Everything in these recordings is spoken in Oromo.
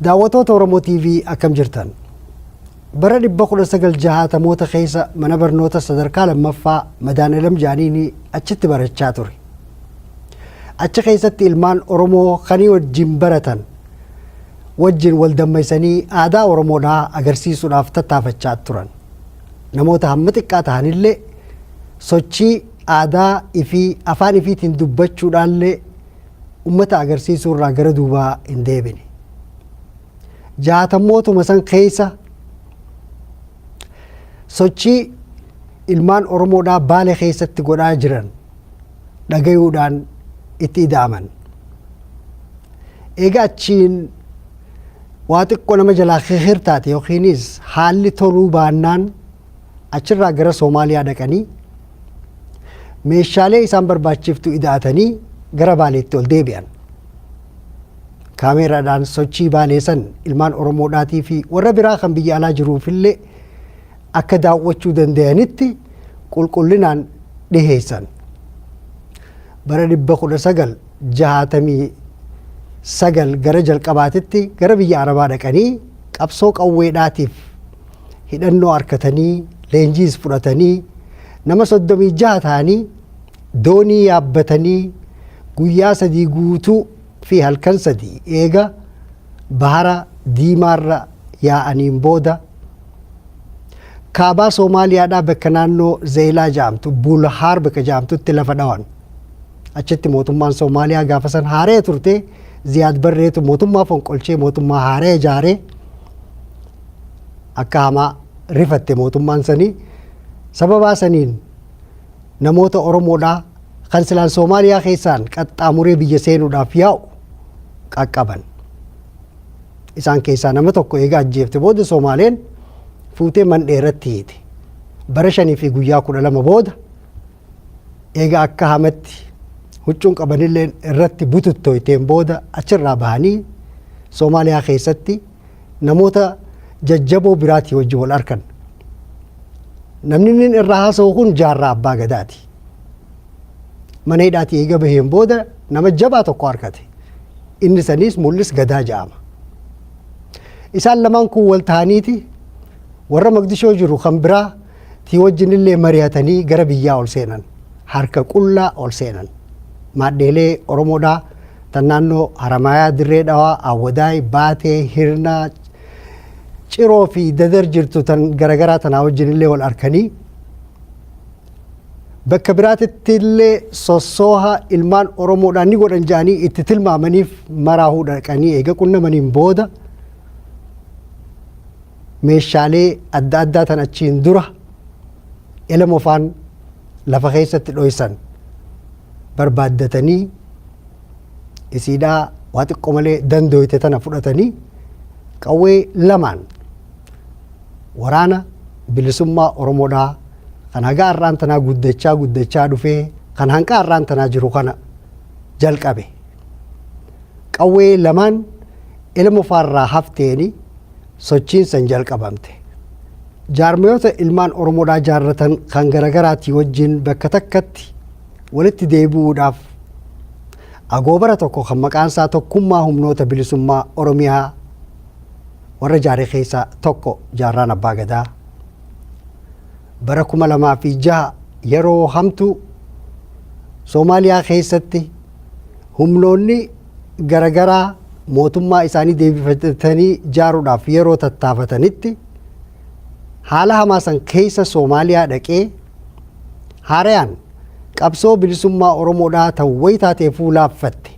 Daawwatoota Oromo TV akkam jirtan? Bara 1960moota keessa mana barnoota sadarkaa lammaffaa Madaanalam Jaaniini achitti barachaa ture. Achi keessatti ilmaan Oromoo kanii wajjin baratan wajjin wal dammaysanii aadaa Oromoodhaa agarsiisuudhaaf tattaafachaa turan. Namoota hamma xiqqaa tahanillee sochii aadaa ifii afaan ifiitiin dubbachuudhaallee ummata agarsiisuu irraa gara duubaa hin deebine. Jaatammootuma san keessa sochii ilmaan Oromoodhaa baale keessatti godhaa jiran dhagayuudhaan itti ida'aman. Egaa achiin waa xiqqoo nama jalaa hirtaate yookiinis haalli toluu baannaan achirraa gara Soomaaliyaa dhaqanii meeshaalee isaan barbaachiftu ida'atanii gara Baaleetti ol deebi'an. Kaameeraadhaan sochii baaleessan ilmaan Oromoodhaatii fi warra biraa kan biyya alaa jiruufillee akka daawwachuu danda'anitti qulqullinaan dhiheessan. Bara dhibba kudha sagal jahaatamii sagal gara jalqabaatitti gara biyya Arabaa dhaqanii qabsoo qawweedhaatiif hidhannoo harkatanii leenjiis fudhatanii nama soddomii jaha ta'anii doonii yaabbatanii guyyaa sadii guutuu fi halkan sadii eega bahara diimaarra yaa'aniin booda kaabaa Soomaaliyaadhaa bakka naannoo Zeelaa jaamtu Bulhaar bakka jaamtutti lafa dhawan. Achitti mootummaan Soomaaliyaa gaafa san haaree turte Ziyaad Barreetu mootummaa fonqolchee mootummaa haaree ijaaree akka hamaa rifatte mootummaan sanii sababaa saniin namoota Oromoodhaa kan silaan Soomaaliyaa keessaan qaxxaamuree biyya seenuudhaaf yaa'u qaqqaban. Isaan keessaa nama tokko eega ajjeefte booda Soomaaleen fuutee mandhee irratti hiite. Bara shanii fi guyyaa kudha lama booda eega akka hamatti huccuun qabanilleen irratti bututtoyteen booda achirraa bahanii Soomaaliyaa keessatti namoota jajjaboo biraatii wajjin wal arkan. Namni inni irraa haasa'u kun jaarraa abbaa gadaati. Mana hidhaatii eega baheen booda nama jabaa tokko arkate. Inni saniis mul'is gadaa ja'ama. Isaan lamaan kun wal ta'aniiti warra Maqdishoo jiru kan biraa tii wajjin illee mari'atanii gara biyyaa ol seenan. Harka qullaa ol seenan. Maadheelee Oromoodhaa tan naannoo Haramaayaa, Dirree Dhawaa, Awwadaay, Baatee, Hirnaa, Ciroo fi Dadar jirtu tan garagaraa tanaa wajjin illee wal arkanii bakka biraatitti illee sossooha ilmaan Oromoodhaan ni godhan jedhanii itti tilmaamaniif maraahuu dhaqanii eega qunnamaniin booda meeshaalee adda addaa tan achiin dura elamofaan lafa keessatti dhoysan barbaaddatanii isiidhaa waa xiqqo malee dandooyte tana fudhatanii qawwee lamaan waraana bilisummaa Oromoodhaa kan hagaa har'aan tanaa guddachaa guddachaa dhufee kan hanqaa har'aan tanaa jiru kana jalqabe. Qawwee lamaan ilma faarraa hafteeni sochiin san jalqabamte. Jaarmayoota ilmaan Oromoodhaa jaarratan kan garagaraatii wajjin bakka takkatti walitti deebi'uudhaaf agoobara tokko kan maqaan isaa tokkummaa humnoota bilisummaa Oromiyaa warra jaare keessaa tokko jaarraan abbaa gadaa. Bara kuma lamaa fi jaha yeroo hamtuu Soomaaliyaa keessatti humnoonni garagaraa mootummaa isaanii deebifatanii jaaruudhaaf yeroo tattaafatanitti haala hamaa san keessa Soomaaliyaa dhaqee haarayaan qabsoo bilisummaa Oromoodhaa ta'u wayitaatee fuulaaffatte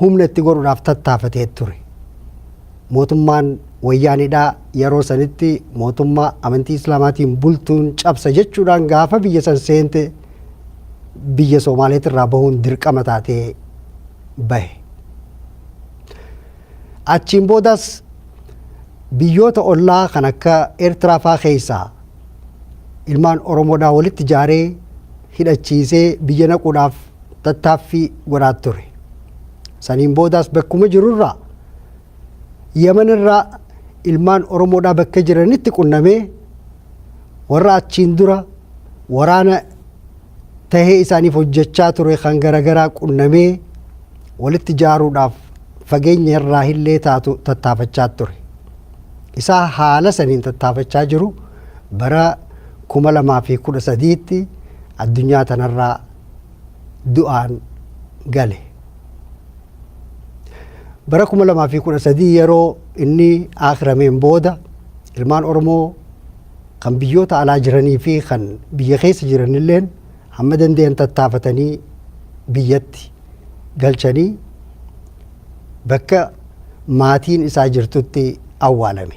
humna itti godhuudhaaf tattaafatee ture. Mootummaan wayyaanidhaa yeroo sanitti mootummaa amantii islaamaatiin bultuun cabsa jechuudhaan gaafa biyya san seente biyya Soomaaleetirraa bahuun dirqama taatee bahe. Achiin boodas biyyoota ollaa kan akka Eertiraa faa keessaa ilmaan Oromoodhaa walitti jaaree hidhachiisee biyya naquudhaaf tattaaffii godhaa ture. Saniin boodas bakkuma jirurraa Yaman irraa ilmaan Oromoodhaa bakka jiranitti qunnamee warra achiin dura waraana tahee isaaniif hojjechaa ture kan garagaraa qunnamee walitti jaaruudhaaf fageenya irraa illee taatu tattaafachaa ture. Isaa haala saniin tattaafachaa jiru bara 2013tti addunyaa tanarraa du'aan gale. Bara 2013 yeroo inni aakrameen booda ilmaan Oromoo kan biyyoota alaa jiranii fi kan biyya keessa jiranilleen hamma danda'an tattaafatanii biyyatti galchanii bakka maatiin isaa jirtutti awwaalame.